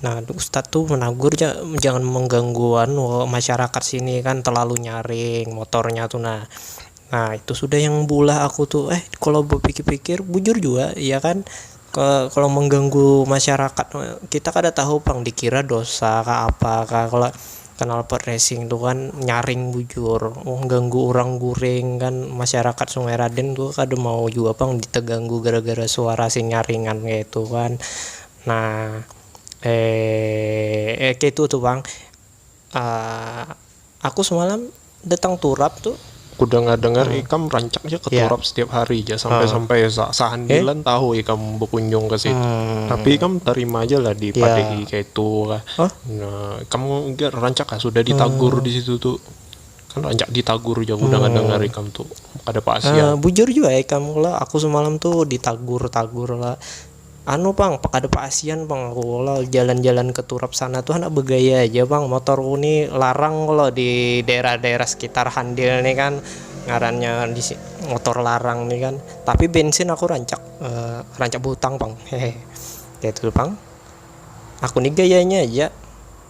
Nah ustad tu menagur ja jangan mengganggu anu masyarakat sini kan terlalu nyaring motornya tu nah, nah itu sudah yang beulah aku tu eh kalo bepikir-pikir bujur jua iya kan kalo mengganggu masyarakat kita kada tahu pang dikira dosa kah apa kah kalo knalpot racing tu kan nyaring bujur mengganggu urang guring kan masyarakat sungai raden tu kada mau jua pang tetganggu gara-gara suara sing nyaringan kaitu kan. Nah, eh, eh keitu tu pang, ah, aku semalam datang turap tu. Ku dengar-dengar ikam rancak ja ke turap setiap hari ja, sampai-sampai sa-sahandilan tahu ikam bekunjung ke situ. Tapi ikam tarima ja lah dipadehi keitu kah. Nah, ikam jar rancak kah sudah ditagur di situ tu. Kan rancak ditagur ja ku dengar-dengar ikam tu, kada pasian. Bujur jua ikam lah, aku semalam tu ditagur-tagur lah. Anu pang, kada paasian pang aku kalo jalan-jalan ke turap sana tu handak begaya haja pang, motorku ni larang kalo di daerah-daerah sekitar handil ni kan ngarannya motor larang ni kan, tapi bensin aku rancak rancak behutang pang hehe, kaitu pang aku ni gayanya haja.